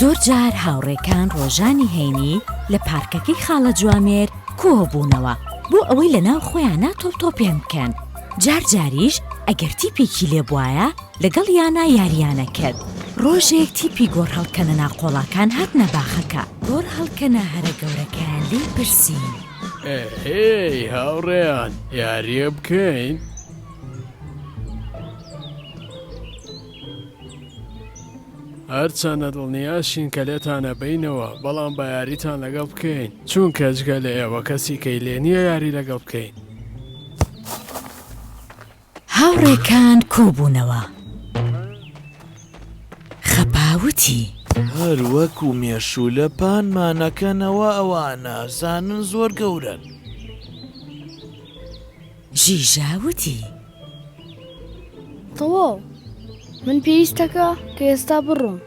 زۆرجار هاوڕێکان ڕۆژانی هەینی لە پارکەکەی خاڵە جوامێر کۆبوونەوە بۆ ئەوەی لە ناو خۆیانە تۆپتۆپێن بکەن جار جاریش ئەگەر تیپێکی لێ بواە لەگەڵ یانە یاریانە کرد ڕۆژێک تیپی گۆڕ هەڵکەنە ناقۆڵاکان هاتنە باخەکە گۆڕ هەڵکەنە هەرە گەورەکەیان لی پرسی ئێی هاوڕێیان یاریە بکەین؟ هەرچەندە دڵنیاشین کە لێتانە بینەوە بەڵام بە یاریتان لەگەڵ بکەین چون کەچگە لە ئێوە کەسی کەی لێ نییە یاری لەگەڵ بکەین. هاوڕێکان کۆبوونەوە. خەپا وتی. هەر وەکو مێشوولە پانمان ئەکەنەوە ئەوان ئەزانن زۆر گەورەن. ژیژا وتی. تەواو من پێویستەکە کە ئێستا بڕۆم.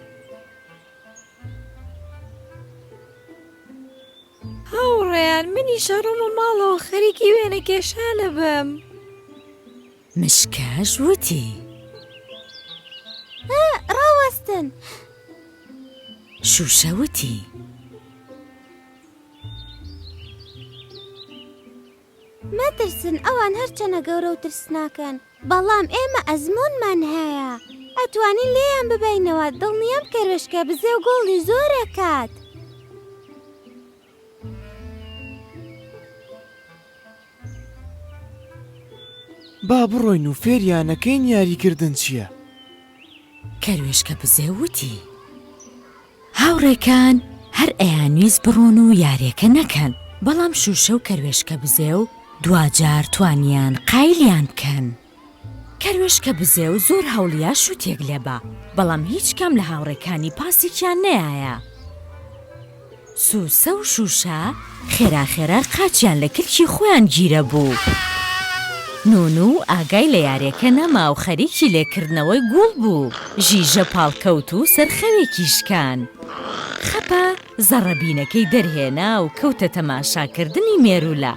هاوڕێیان منیش ئەڕۆمە ماڵەوە خەریکی وێنە کێشان ئەبم. مشکاش وتی. ئە ڕاوەستن. شوشە وتی. مەترسن ئەوان هەرچەنە گەورە و ترسناکن بەڵام ئێمە ئەزموونمان هەیە ئەتوانین لێیان ببەینەوە دڵنیام کەروێشکە بزێو گۆڵی زۆر ئەکات. با بڕۆین و فێریانەکەین یاریکردن چیە. کەروێشکە بزێو وتی. هاوڕێکان هەر ئەیانویست بڕۆن و یاریەکە نەکەن بەڵام شوشە و کەروێشکە بزێو دواجار توانیان قایلیان بکەن کەروێشکە بزێو زۆر هەوڵیا شوتێک لێبا بەڵام هیچ کام لە هاوڕێکانی پاسێکیان نەیایە سوسە و شوشە خێرا خێرا قاچیان لە کلکی خۆیان گیرەبوو. نونوو ئاگای لە یارێکە نەما و خەریکی لێ کردنەوەی گووڵ بوو. ژیژە پاڵکەوت و سەر خەوێکی شکان. خەپە زەڕەبینەکەی دەرهێنا و کەوتە تەماشا کردنی مێروولە.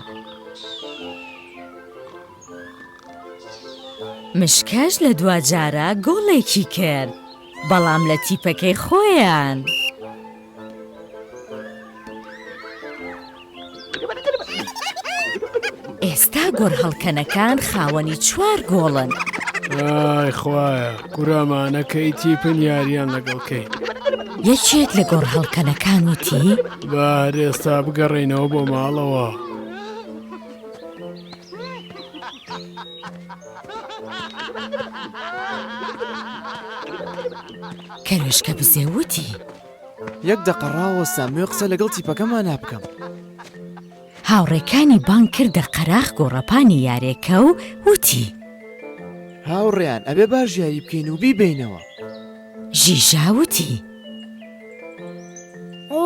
مشکەش لە دواجارە گۆڵێکی کرد. بەڵام لە تیپەکەی خۆیان. ئێستا گۆرهەڵکەنەکان خاوەنی چوار گۆڵن. ئای خوایە کورامانە کەی تیپن یاریان لەگەڵ کەی یەکێک لە گۆڕهڵکەنەکان وتی بار ئێستا بگەڕێینەوە بۆ ماڵەوە. کەروێشکە بزێو وتی. یەک دەقە ڕاوەستە مۆێ قسە لەگەڵ تیپەکەمانا بکەم. هاوڕێکانی بانگ کردە قەراخ گۆڕەپانی یارێکە و وتی. هاوڕێیان ئەبێ باش یاری بکەین و بیبینەوە. ژیژا وتی. ئۆ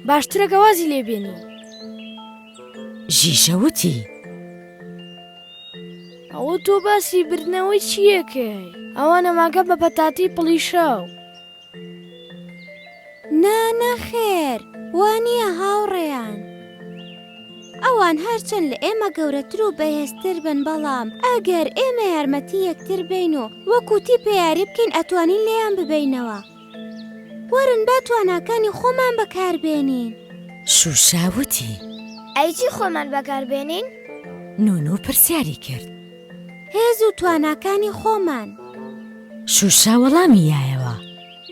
باشترە گەوازی لێبێنی. ژیژە وتی. ئەوە تۆ باسی بردنەوەی چیەکەی ئەوە نەماکە بە پەتاتی پڵیشاو. نا نەخێر وانە هاوڕێیان. ئەوان هەرچەند لە ئێمە گەورەتر و بەهێزتر بن بەڵام ئەگەر ئێمە یارمەتی یەکتر بین و وەکوتی پێیاری بکەین ئەتوانین لێیان ببینەوە. وەرن با تواناکانی خۆمان بەکاربێنین. شوشا وتی. ئەی چی خۆمان بەکاربێنین؟ نونو پرسیاری کرد. هێز و تواناکانی خۆمان. شوشا وەڵامی یایەوە.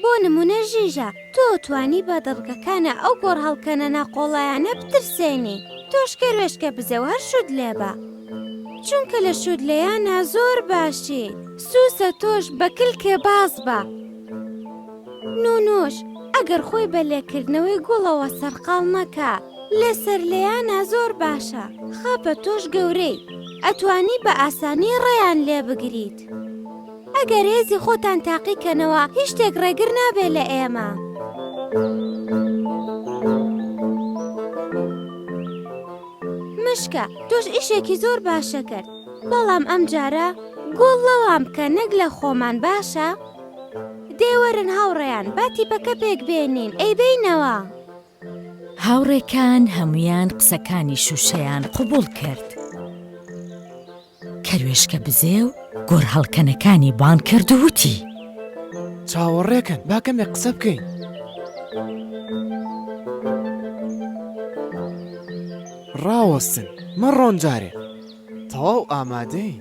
بۆ نمونە ژیژە تۆ توانی بە دەڵگەکانە ئەو گۆڕ هەڵکەنە ناقۆڵایانە بترسێنی تۆش کەروێشکە بزێ و هەر شود لێبە چونکە لە شود لەیانە زۆر باشی سوسە تۆش بە کلکێ باز بە نونوش ئەگەر خۆی بە لێکردنەوەی گوڵەوە سەرقاڵ مەکە لێ سەر لێیانە زۆر باشە خاپە تۆش گەورەی ئەتوانی بە ئاسانی ڕێیان لێ بگریت ئەگەر هێزی خۆتان تاقیکەنەوە هیچ شتێک ڕێگر نابێ لە ئێمە. مشکە تۆش ئیشێکی زۆر باشە کرد بەڵام ئەم جارە گۆڵ لەوان بکە نەک لە خۆمان باشە؟ دێ وەرن هاوڕێیان با تیپەکە پێک بێنین ئەی بینەوە. هاوڕێکان هەموویان قسەکانی شووشەیان قوبوڵ کرد. کەروێشکە بزێ و گۆر هەڵکەنەکانی بان کرد وتی. چاوەڕێکن باکەمێ قسە بکەین. ڕاوەستن مەڕۆن جارێ تەواو ئامادەین.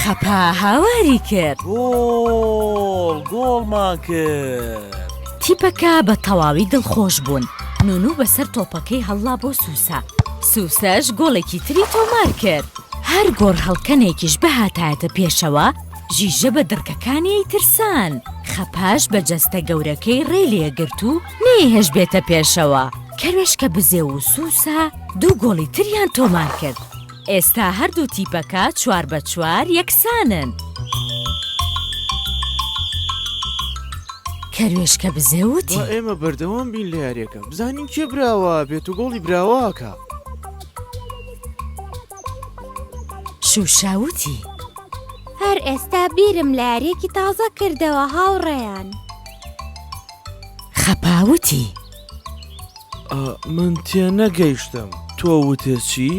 خەپا هاواری کرد. گۆڵ گۆڵمان کرد. تیپەکە بە تەواوی دڵخۆش بوون. نونو بەسەر تۆپەکەی هەڵڵا بۆ سوسە. سوسەش گۆڵێکی تری تۆمار کرد. هەر گۆڕهەڵکەنێکیش بهاتایەتە پێشەوە، ژیژە بە دڕکەکانی ئەیترسان. خەپاش بە جەستە گەورەکەی ڕێی لێ گرت و نەیهێشت بێتە پێشەوە. کەروێشکە بزێو و سوسە دوو گۆڵی تریان تۆمار کرد. ئێستا هەردوو تیپەکە چوار بە چوار یەکسانن. کەروێشکە بزێ وتی. با ئێمە بەردەوام بین لە یاریەکە بزانین کێ براوە بێت و گۆڵی براواکە. شوشاوتی. هەر ئێستا بیرم لە یاریەکی تازە کردەوە هاوڕێیان. خەپاوتی. من تێنەگەیشتم تۆ وتت چی؟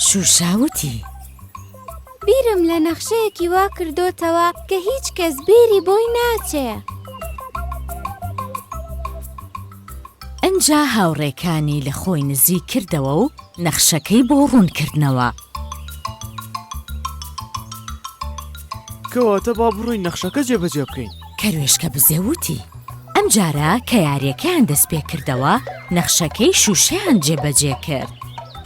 شوشاوتی بیرم لە نەخشەیەکی وا کردوتەوە کە هیچ کەس بیری بۆی ناچێ ئەجا هاوڕێکانی لە خۆی نزی کردەوە و نەخشەکەی بۆ ڕوونکردنەوە. کەواتە با بڕۆین نەخشەکە جێبەجێ بکەین. کەروێشکە بزێ وتی، ئەم جارە کە یاریەکەیان دەست پێ کردەوە نەخشەکەی شوشەیان جێ بەجێ کرد.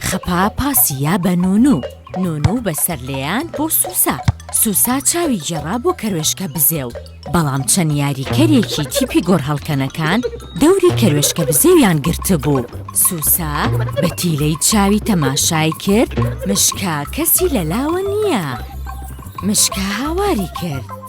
خەپا پاسی یا بە نونو، نونو بە سەر لێیان بۆ سوسا، سوسا چاوی گێڕا بۆ کەروێشکە بزێ و بەڵام چەند یاریکەرێکی تیپی گۆڕهەڵکەنەکان دەوری کەروێشکە بزێویان گرتبوو. سوسا بە تیلەی چاوی تەماشای کرد مشکا کەسی لە لاوە نییە. مشکا هاواری کرد.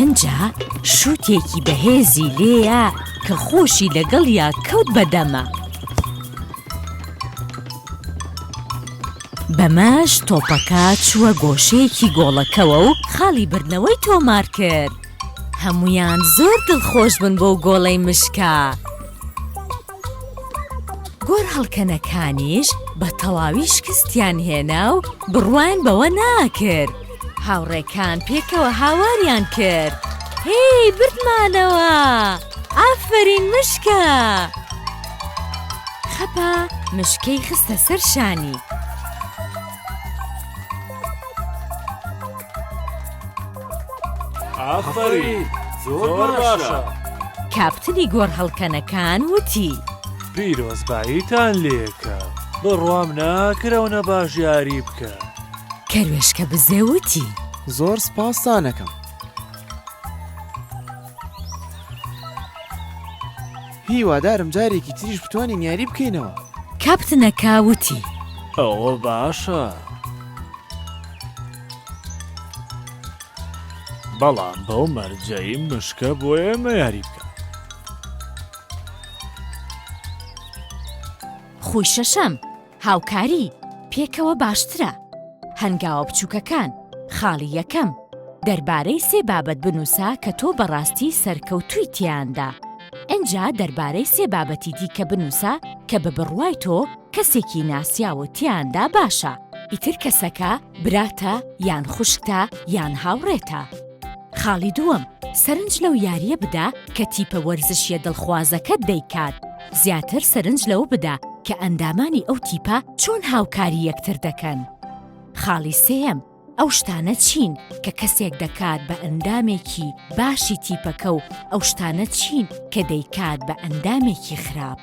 ئنجا شووتێکی بەهێزی لێیا کە خۆشی لەگەڵیا کەوت بەدەما. بەمەش تۆپەکە چووە گۆشەیەکی گۆڵەکەوە و خاڵی بردنەوەی تۆمار کرد. هەمویان زۆر دڵخۆش بوون بۆ گۆڵەی مشکا. گۆر هەڵکەنەکانیش بە تەواوی شکستیان هێنا و بڕوایان بەوە ناکرد. هاوڕێکان پێکەوە هاواریان کرد هێی بردمانەوە ئافەرین مشکە خەپە مشکەی خستە سەر شانی ئافەرین زۆر باشە کاپتنی گۆڕ هەڵکەنەکان وتی پیرۆزباییتان لێکە بڕوام ناکرەونە باش یاری بکە. کەروێشکە بزێ وتی. زۆر سپاستانەکەم. هیوادارم جارێکی تریش بتوانین یاری بکەینەوە. کاپتنەکە وتی. ئەوە باشە. بەڵام بەو مەرجەی مشکە بۆ ئێمە یاری بکە. خوی شەشەم هاوکاری، پێکەوە باشترە. هەنگاوە بچووکەکان، خاڵی یەکەم، دەربارەی سێ بابەت بنووسە کە تۆ بەڕاستی سەرکەوتووی تێیاندا. ئینجا دەربارەی سێ بابەتی دیکە بنووسە کە بە بڕوای تۆ کەسێکی ناسیاو و تێیاندا باشە. ئیتر کەسەکە براتە یان خوشکتە یان هاوڕێتە. خاڵی دووەم، سەرنج لەو یارییە بدە کە تیپە وەرزشییە دڵخوازەکەت دەیکات. زیاتر سەرنج لەوە بدە کە ئەندامانی ئەو تیپە چۆن هاوکاری یەکتر دەکەن. خاڵی سێیەم، ئەو شتانە چین کە کەسێک دەکات بە ئەندامێکی باشی تیپەکە و ئەو شتانە چین کە دەیکات بە ئەندامێکی خراپ.